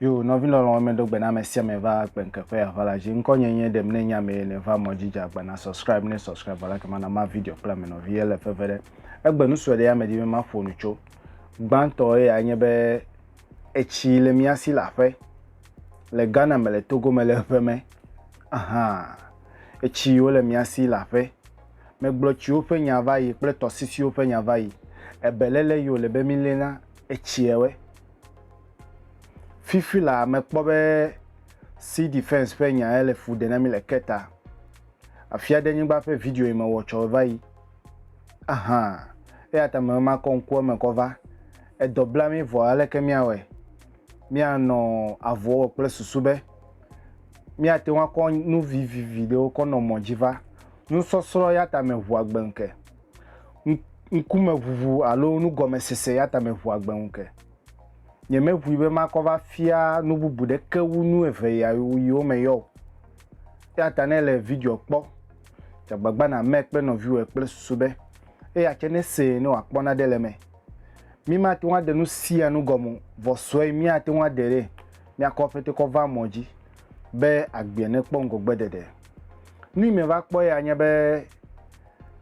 Yo, nɔvi lɔlɔ me do gbe na me sia me va kpe nke ƒe ava la dzi. Ŋkɔ nye nye ɖem ne nya me ne va mɔ dzi dza gbe na subscribe ne subscribe la kema na ma video kple ame nɔvi ye le feve ɖe. Egbe nu sue ɖe ya me di be ma ƒo nu tso. Gbãtɔ ye anye be etsi le mia si le aƒe. le Ghana me le Togo me le ƒe me. Aha, etsiwo le mía si le aƒe. Megblɔ tsiwo ƒe nya va yi kple tɔsisiwo ƒe nya va yi. Ebeléle yi wòle be mílé na etsiawoe. Fifi la mekpɔ be sea defense ƒe nyae le fu ɖe na mí le Keta, afi aɖe nyigba ƒe video yi mewɔ tsɔ va yi. Aha, eya ta mema kɔ ŋku eme kɔ va. Edɔ blamee vɔ aleke míawɔe? míanɔ avɔ wɔ kple susu be míate ŋu akɔ nu vivivi ɖewo kɔ nɔ mɔ dzi va. Nusɔsrɔ̃ ya ta me ŋu agbe ŋu ke. Ŋkumeŋuŋu alo nugɔmesese ya ta me ŋu agbe ŋu ke. Nyemeʋui be makɔ va fia nu bubu ɖeke wu nu eve ya yiwo me yɔ o. Eya ta ne èle video kpɔ, dze agbagba nàmee kple nɔviwòe kple susu be eya tsɛ nesee ne wòakpɔ nane le eme. Mímate ŋu aɖe nu sia nu gɔme o, vɔ sue míate ŋu aɖe ɖe míakɔ aƒete kɔ va mɔ dzi be agbea nekpɔ ŋgɔgbeɖeɖe. Nui meva kpɔ ya nye be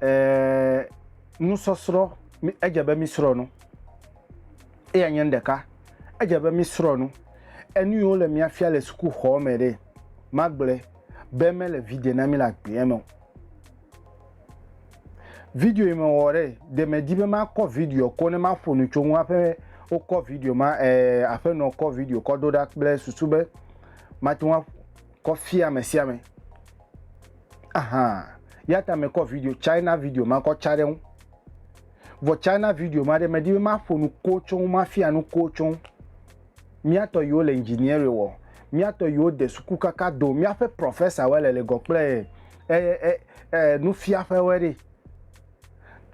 e, nusɔsrɔ̃, edze be mísrɔ̃ nu. Eya nye nu ɖeka. Edze be mísrɔ̃ nu. Enu yiwo le míafia le sukuxɔ me ɖe, magblɔe be mele vide na mí le agbea me o. Video yi mewɔ ɖe, ɖe medi be makɔ video kɔ ne maƒo nu tso ŋu hafi wokɔ video ma ɛɛ aƒenɔ kɔ video kɔ do ɖa kple susu be mate ŋu akɔ fia ame sia ame. Ahan, ya ta mekɔ video China video ma kɔ tsa ɖe ŋu. Vɔ China video ma ɖe medi be maƒo nu ko tso ŋu, mafia nu ko tso ŋu. Mía tɔ yiwo le engineering wɔ, mía tɔ yiwo de suku kaka do míaƒe professor-woe le Lagos kple nufiaƒewoe ɖe.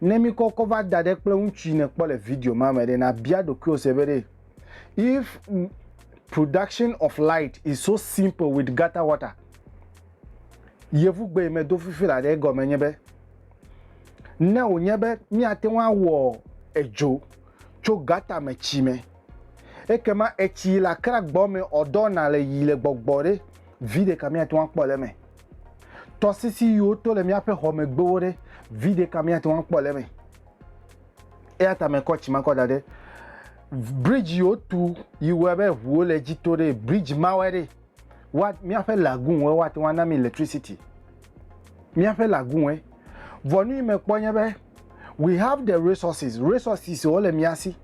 Ne míkɔ kɔ va da ɖe kple ŋutsu yi nèkpɔ le video ma me ɖe, nàbia ɖokuiwò se be ɖe, If production of light is so simple with gutter water, Yevugbe yi me dofifila ɖe gɔme nye be, ne wònye be míate ŋu awɔ edzo, tso gata me tsi me. Ekema etsi le akra gbɔ me ɔdɔ na le yi le gbɔgbɔ ɖe vi ɖeka mi ate ŋu akpɔ le me. Tɔsisi yi woto le miaƒe xɔ megbewo ɖe vi ɖeka mi ate ŋu akpɔ le me. Eya ta me kɔ tsi ma kɔ da ɖe bridge yi wotu yi wɔe be ʋuwo le dzi to ɖe bridge ma wɔe ɖe wa miaƒe lagoon wɔe woate ŋu ana mi electricity. Miaƒe lagoon wɔe. Vɔ nu yi me kpɔ nye be We have the resources, resources wo le mía si,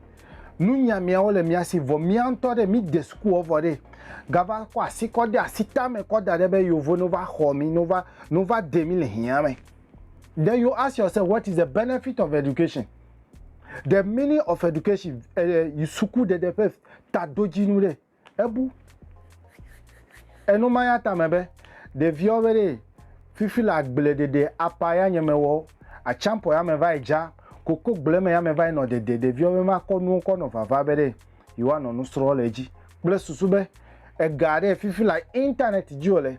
nunyamiawo le mía si, vɔ mía ŋutɔ ɖe, mí de suku ɔ vɔ ɖe, gava kɔ asi kɔ de asi tame kɔ da ɖe be yovo no va xɔ mí, no va, no va de mí le hiã me. Then you ask yourself what is the benefit of education? The meaning of education, eh, suku ɖeɖe ƒe tadojinu ɖe. Ebu enu ma ya tame be, Ɖeviɔ be ɖee, fifi le agble ɖeɖe apa ya nye mewɔ wo, atsãpɔ ya me va yi dza, koko gble me ya me va yi nɔ dede, ɖeviɔ be makɔ nuwo kɔ nɔ vava be ɖee yewoa nɔ nu srɔ le edzi kple susu be ega ɖee fifi le internet dzi wole.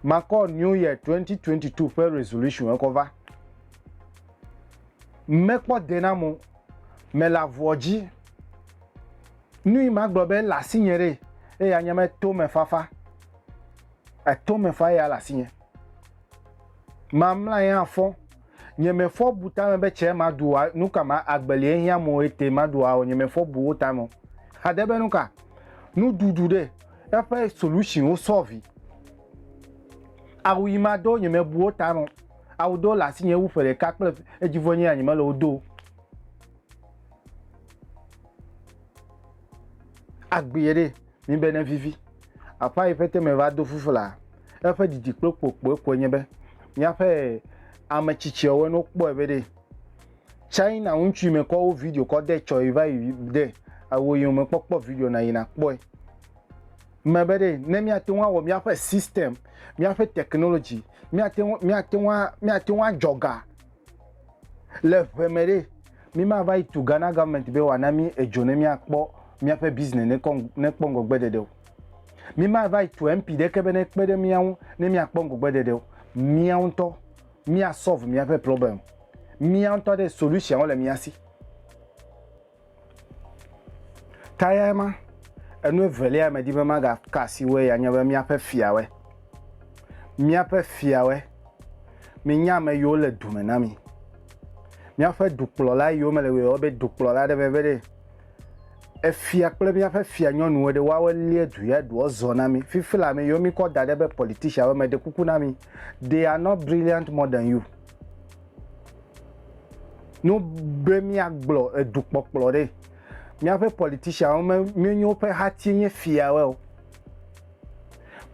Makɔ New Year 2022 ƒe resolution ekɔ va. Mekpɔ denam o, mele avuɔ dzi. Nui magblɔ be ele asinye ɖe, eya nye be tomefafa, etomefa ya le asinye. Mamla ya fɔ, nyemefɔ bu tame be tsɛ maɖu oa, nuka ma agbeli ehiã mo ete maɖu oa o, nyemefɔ bu wo tame o. Hade be nuka? Nuɖuɖu ɖe, eƒe solution wo sɔvi. Awu yi mado, nyemebu wo tame o, awu do le asinye wu ƒe ɖeka kple edzi vɔ nye ya nyemele wo do o. Agbie ɖe mi be ne vivi. Aƒa yi ƒete me va do fufu la, eƒe didi kple kpokpoe koe nye be míaƒe ame tsitsiawo no kpɔe be ɖe China ŋutsu yi me kɔ wo video kɔ de tsɔ yi va yi de awo yi me kpɔkpɔ video na yi na kpɔe. Me be ɖe ne míate ŋu awɔ míaƒe system, míaƒe technology, míate ŋu míate ŋu míate ŋu adzɔga Le ŋɛ me ɖe, mi ma va yi tu Ghana government be wa na mi edzo ne mia kpɔ mia ƒe business ne kɔ ne kpɔ ŋgɔgbe ɖeɖe o. Mi ma va yi tu MP ɖeke be ne kpe ɖe mia ŋu ne mia kpɔ ŋgɔgbe ɖeɖe o. Mia ŋutɔ mia solve mia ƒe problem. Mia ŋutɔ ɖe solution wo le mia si. Kayae ma? Enu evelia medi be magaka asi woe ya nye be míaƒe fiawoe. Míaƒe fiawoe. Minya ame yiwo le du me na mi. Míaƒe dukplɔla yiwo mele yɔ be dukplɔla ɖe be ɖe efia kple míaƒe fianyɔnuwo ɖe woawo lia du ya dua zɔ na mi. Fifi la ame yiwo mikɔ da ɖe be politician wo me ɖe kuku na mi. They are not brilliant more than you. No be míagblɔ edukpɔkplɔ ɖe, míaƒe politicianwo me míenye woƒe hati nye fiawoe o.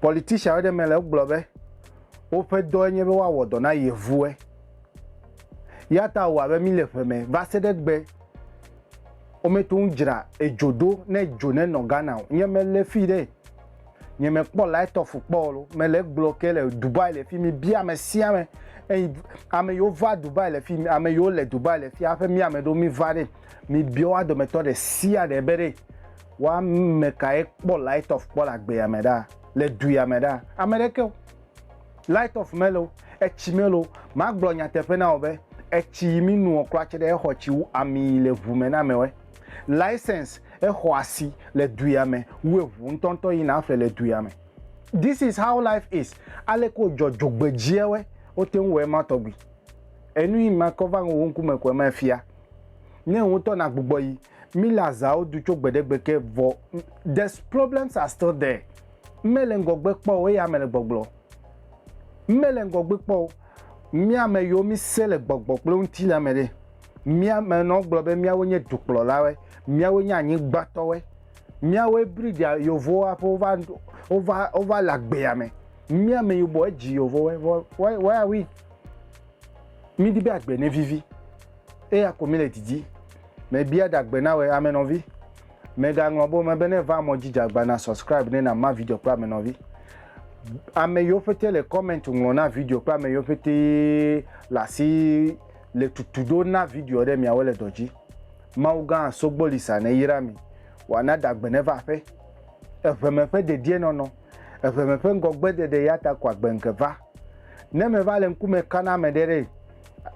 Politicianwo ɖe me le wogblɔ be woƒe dɔe nye be woawɔ dɔ na yevuwoe. Ya ta wòwɔ abe míle ƒe me va se ɖe gbe womete ŋu dzra edzo ɖo ne edzo nenɔ Ghana o. Nye melé fii ɖe. nye me kpɔ light off kpɔ o lo me le gblɔ ke le dubai le fi mi bi ame sia me eyi ame yiwo va dubai le fi mi ame yiwo le dubai le fi aƒe mi ame ɖewo mi va ɖe mi biɔ wa dometɔ ɖe sia ɖe be ɖe wa me ka ye kpɔ light off kpɔ le agbe ya me ɖa le du ya me ɖa ame ɖe ke o light off me lo etsi me lo ma gblɔ nyateƒe na o be etsi yi mi nuɔ kura tse ɖe exɔ tsi wu ami yi le ʋu me na me wɛ License exɔ asi le duya me wu eʋu ŋtɔŋtɔ yina aƒle le duya me. This is how life is. Aleke wodzɔ dzogbedziawe wote ŋu wɔ ema tɔgbi. Enu yi ma ke wova ŋewo ŋkume ko ema efia. Ne ŋutɔ nagbugbɔ yi, mile azawo du tso gbeɖegbe ke vɔ the problems are still there. Mele ŋgɔgbe kpɔ o eye ame le gbɔgblɔ. Mele ŋgɔgbe kpɔ o. Mía ameyiwo mise le gbɔgbɔ kple ŋutilã me ɖe. Mía me nɔ gblɔ be míawo nye dukplɔlawe, míawo nye anyigbatɔwe, míawoe bridia yovowo aƒe wova wova wova le agbea me. Mía me yubɔ edzi yovowe vɔ wɔ wɔawui. Mídi be agbe nevivi. Eya ko míle didi. Mebia ɖe agbe nawe amenɔvi. Megaŋlɔ be me be ne va mɔ dzi dze agba na subscribe ne na ma video kple amenɔvi. Ame yiwo ƒete le comment ŋlɔ na video kple ame yiwo ƒete le asi le tutu ɖo na video ɖe miawo le dɔdji. Mawu gã sogbo Lisa ne yra mi wa na dagbe ne va aƒe. Eʋe me ƒe dedie nɔnɔ, eʋe me ƒe ŋgɔgbe ɖeɖe yata ko agbe ŋke va. Ne me va le ŋkume ka na ameɖe ɖe,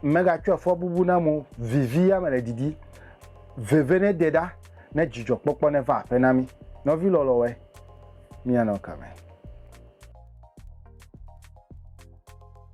me ga tsɔe fɔ bubu na mo vivi ame le didi. Veve ne de ɖa ne djidjɔ kpɔkpɔ ne va aƒe na mi. Nɔvi lɔlɔwɔe, mi anɔ kame.